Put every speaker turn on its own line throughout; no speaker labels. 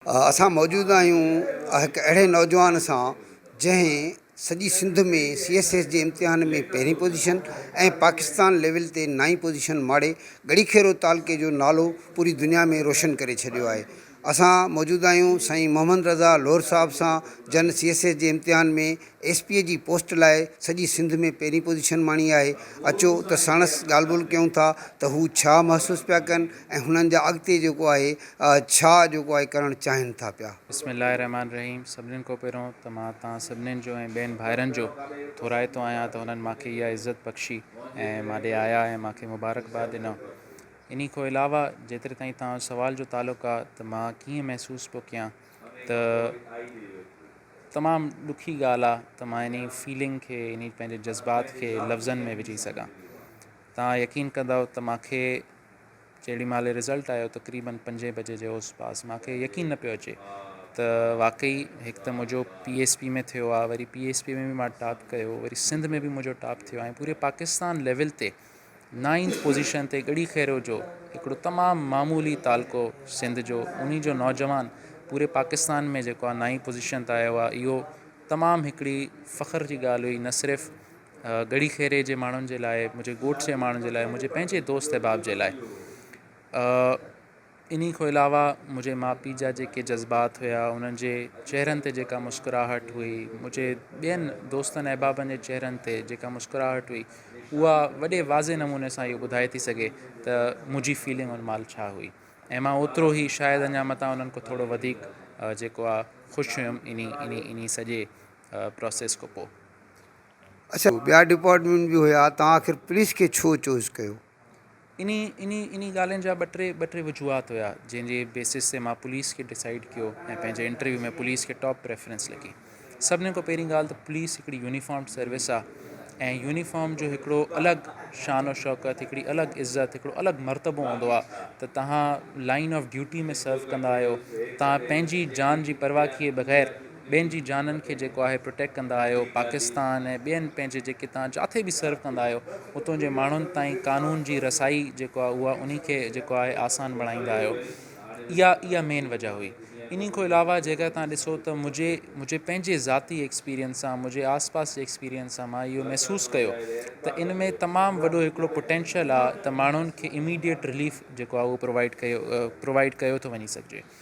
اسان موجود آهيون هڪ اهڙي نوجوان سان جنهن سڄي سنڌ ۾ سي ايس ايس جي امتحان ۾ پهرين پوزيشن ۽ پاڪستان ليول تي نائين پوزيشن ماڙي ڳڙهيخيرو تعلقي جو نالو پوري دنيا ۾ روشن ڪري ڇڏيو آهي اسان موجود آهيون سائين محمد رضا لوهر صاحب سان جن سي ايس ايس جي امتحان ۾ ايس پي جي پوسٽ لاء سڄي سنڌ ۾ پهرين پوزيشن ماڻي آهي، اچو ته ساڻس ڳالهه ٻولهه ڪيون ٿا ته هو ڇا محسوس پيا ڪن ۽ هنن جا اڳتي جيڪو آهي ڇا جيڪو آهي ڪرڻ چاهين ٿا پيا. بسم الله الرحمٰن الرحيم
سڀنين کان پهريون ته مان توهان سڀنين جو ۽ ٻين ڀائرن جو ٿورائتو آهيان ته هنن مان کي اها عزت بخشي ۽ مان ڏي آيا ۽ مان کي مبارڪباد ڏنو انهي کان علاوه جيتري تائين توهان جو سوال جو تعلق آهي ته مان ڪيئن محسوس پيو ڪيان ته تمام ڏکي ڳالهه آ ته مان انهي فيلنگ کي انهي پنهنجي جذبات کي لفظن ۾ وجهي سگهان توهان يقين ڪندؤ ته ماکي جيڏي مهل رزلٽ آيو تقريبن پنجي بجي جي اوس پاس ماکي يقين نه پيو اچي ته واقعي هڪ ته منهنجو پي ايس پي ۾ ٿيو آ وري پي ايس پي ۾ به مان ٽاپ ڪيو وري سنڌ ۾ به منهنجو ٽاپ ٿيو آ ۽ پوري پاڪستان ليول تي نائينٿ پوزيشن تي ڳڙهي خيرو جو هڪڙو تمام معمولي تعلقو سنڌ جو انهي جو نوجوان پوري پاڪستان ۾ جيڪو آهي نائين پوزيشن تي آيو آهي اهو تمام هڪڙي فخر جي ڳالهه هئي نه صرف ڳڙهي خيري جي ماڻهن جي لاء منهنجي ڳوٺ جي ماڻهن جي لاء منهنجي پنهنجي دوست احباب جي لاء انهي کان علاوه منهنجي ماء پيء جا جيڪي جذبات هيا، انهن جي چهرن تي جيڪا مسڪراهٽ هئي، منهنجي ٻين دوستن احبابن جي چهرن تي جيڪا مسڪراهٽ هئي، اها وڏي واضح نموني سان اهو ٻڌائي ٿي سگهي ته منهنجي فيلنگ ان مهل ڇا هئي ۽ مان اوترو ئي شايد اڃا متان انهن کان ٿورو وڌيڪ جيڪو آ خوش هيم انهي انهي انهي سڄي پراسيس کان پوء. اڇا
ٻيا ڊپارٽمينٽ به هيا توهان آخر پوليس کي ڇو چوز ڪيو؟
انهي انهي ڳالهين جا ٻه ٽي ٻه ٽي وجوهات هيا جنهن جي بيسس تي مان پوليس کي ڊسائيڊ ڪيو ۽ پنهنجي انٽرويو ۾ پوليس کي ٽاپ پريفرنس لڳي سڀني کان پهرين ڳالهه ته پوليس هڪڙي يونيفارم سروس آ ۽ يونيفارم جو هڪڙو الڳ شان و شوڪت هڪڙي الڳ عزت هڪڙو الڳ مرتبو هوندو آ ته تهان لائن آف ڊيوٽي ۾ سرو ڪندا آهيو تهان پنهنجي جان جي پرواهه ڪئي بغير ٻين جي جانن کي جيڪو آهي پروٽيڪٽ ڪندا آهيو پاڪستان ۽ ٻين پنهنجي جيڪي تان جاٿي به سرو ڪندا آهيو اتون جي ماڻهن تائين قانون جي رسائي جيڪو آهي اها انهي کي جيڪو آهي آسان بڻائيندا آهيو اها اها مين وجه هئي انهي کان علاوه جيڪا تان ڏسو ته مجھي مجھي پنهنجي ذاتي ايڪسپيرينس سان مجھي آس پاس جي ايڪسپيرينس سان مان اهو محسوس ڪيو ته ان ۾ تمام وڏو هڪڙو پوٽينشل آهي ته ماڻهن کي اميڊيٽ رليف جيڪو آهي اهو پرووائيڊ ڪيو پرووائيڊ ڪيو ٿو وڃي سگھجي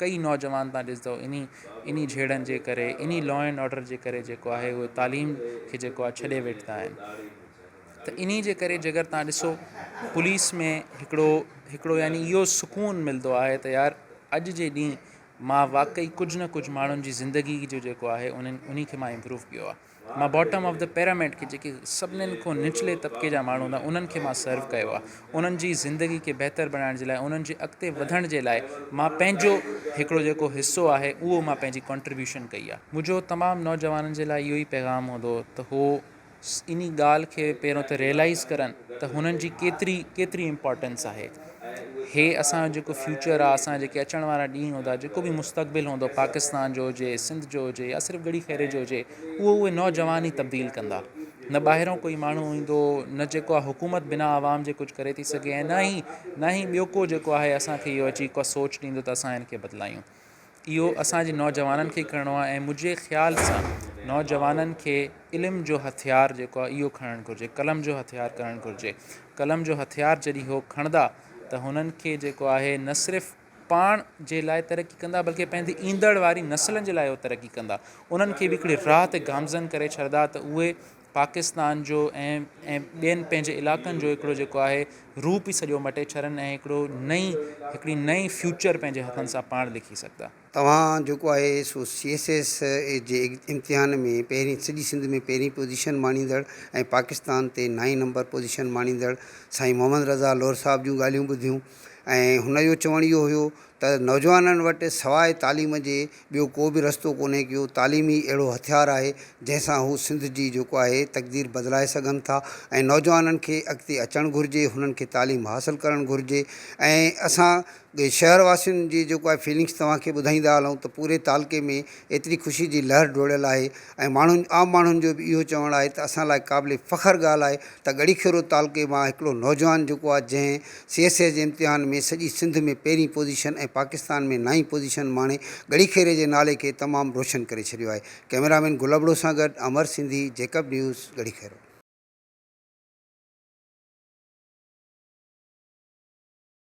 ڪيئي نوجوان تان ڏسندؤ انهي انهي جهيڙن جي ڪري انهي لا اينڊ آرڊر جي ڪري جيڪو آهي اهي تعليم کي جيڪو آهي ڇڏي ويٺا آهن ته انهي جي ڪري جي ڪر تان ڏسو پوليس ۾ هڪڙو هڪڙو يعني اهو سڪون ملندو آهي ته يار اڄ جي ڏينهن مان واقعي ڪجهه نه ڪجهه ماڻهن جي زندگي جو جيڪو آهي انهن انهي کي مان امپروو ڪيو آهي مان باٽم آف دي پيراميڊ کي جيڪي سڀنن کان نچلي طبقي جا ماڻهو هوندا انهن کي مان سرو ڪيو آهي انهن جي زندگي کي بهتر بنائڻ جي لاء انهن جي اڳتي وڌڻ جي لاء مان پنهنجو هڪڙو جيڪو حصو آهي اهو مان پنهنجي ڪنٽريبيوشن ڪئي آهي منهنجو تمام نوجوانن جي لاء اهو ئي پيغام هوندو ته هو انهي ڳالهه کي پهريون ته ريلائيز ڪرن ته هنن جي ڪيتري ڪيتري امپارٽينس آهي هي اسان جو جيڪو فيوچر آ اسان جا جيڪي اچڻ وارا ڏينهن هوندا جيڪو به مستقبل هوندو پاڪستان جو هجي سنڌ جو هجي يا صرف ڳڙهي خيري جو هجي اهو اهي نوجوان ئي تبديل ڪندا نه ٻاهرو ڪوئي ماڻهو ايندو نه جيڪو آ حڪومت بنا عوام جي ڪجهه ڪري ٿي سگهي ۽ نه ئي نه ئي ٻيو ڪو جيڪو آهي اسانکي اهو اچي ڪا سوچ ڏيندو ته اسان هن کي بدلايون اهو اسان جي نوجوانن کي ڪرڻو آهي ۽ منهنجي خيال سان نوجوانن کي علم جو هٿيار جيڪو آهي اهو کڻڻ گهرجي قلم جو هٿيار ڪرڻ گهرجي قلم جو هٿيار جڏهن هو کڻندا ته هنن کي جيڪو آهي نه صرف پاڻ جي لاء ترقي ڪندا بلڪه پنهنجي ايندڙ واري نسلن جي لاء هو ترقي ڪندا انهن کي به هڪڙي راهه تي گامزن ڪري ڇڏدا ته اهي پاڪستان جو ۽ ۽ ٻين پنهنجي علاقن جو هڪڙو جيڪو آهي روپ ئي سڄو مٽي ڇڏن ۽ هڪڙو نئين هڪڙي نئين فيوچر پنهنجي هٿن سان پاڻ لکي سگهندا. توهان جيڪو آهي
سو سي ايس ايس اي جي امتحان ۾ پهرين سڄي سنڌ ۾ پهرين پوزيشن ماڻيندڙ ۽ پاڪستان تي نائين نمبر پوزيشن ماڻيندڙ سائين محمد رضا لوهر صاحب جون ڳالهيون ٻڌيون، ۽ هن جو چوڻ اهو هيو ته نوجوانن وٽ سواء تعليم جي ٻيو ڪو به رستو ڪونهي ڪيو تعليم ئي اهڙو هٿيار آهي جنهن سان هو سنڌ جي جيڪو آهي تقدير بدلائي سگهن ٿا ۽ نوجوانن کي اڳتي اچڻ گهرجي هنن کي تعليم حاصل ڪرڻ گهرجي ۽ اسان شهر واسين جي جيڪو آهي فيلنگس توهان کي ٻڌائيندا هلون ته پوري تعلقي ۾ ايتري خوشي جي لهر ڊوڙيل آهي ۽ ماڻهن عام ماڻهن جو به اهو چوڻ آهي ته اسان لاء قابل فخر ڳالهه آهي ته ڳڙهي کيرو تعلقي مان هڪڙو نوجوان جيڪو آهي جنهن سي ايس اي جي امتحان ۾ سڄي سنڌ ۾ پهرين پوزيشن ۽ پاڪستان ۾ نائين پوزيشن ماڻي ڳڙهي خيري جي نالي کي تمام روشن ڪري ڇڏيو آهي. ڪئميرامين گل ابڙو سان گڏ امر سنڌي، جيڪب نيوز، ڳڙهي خيرو.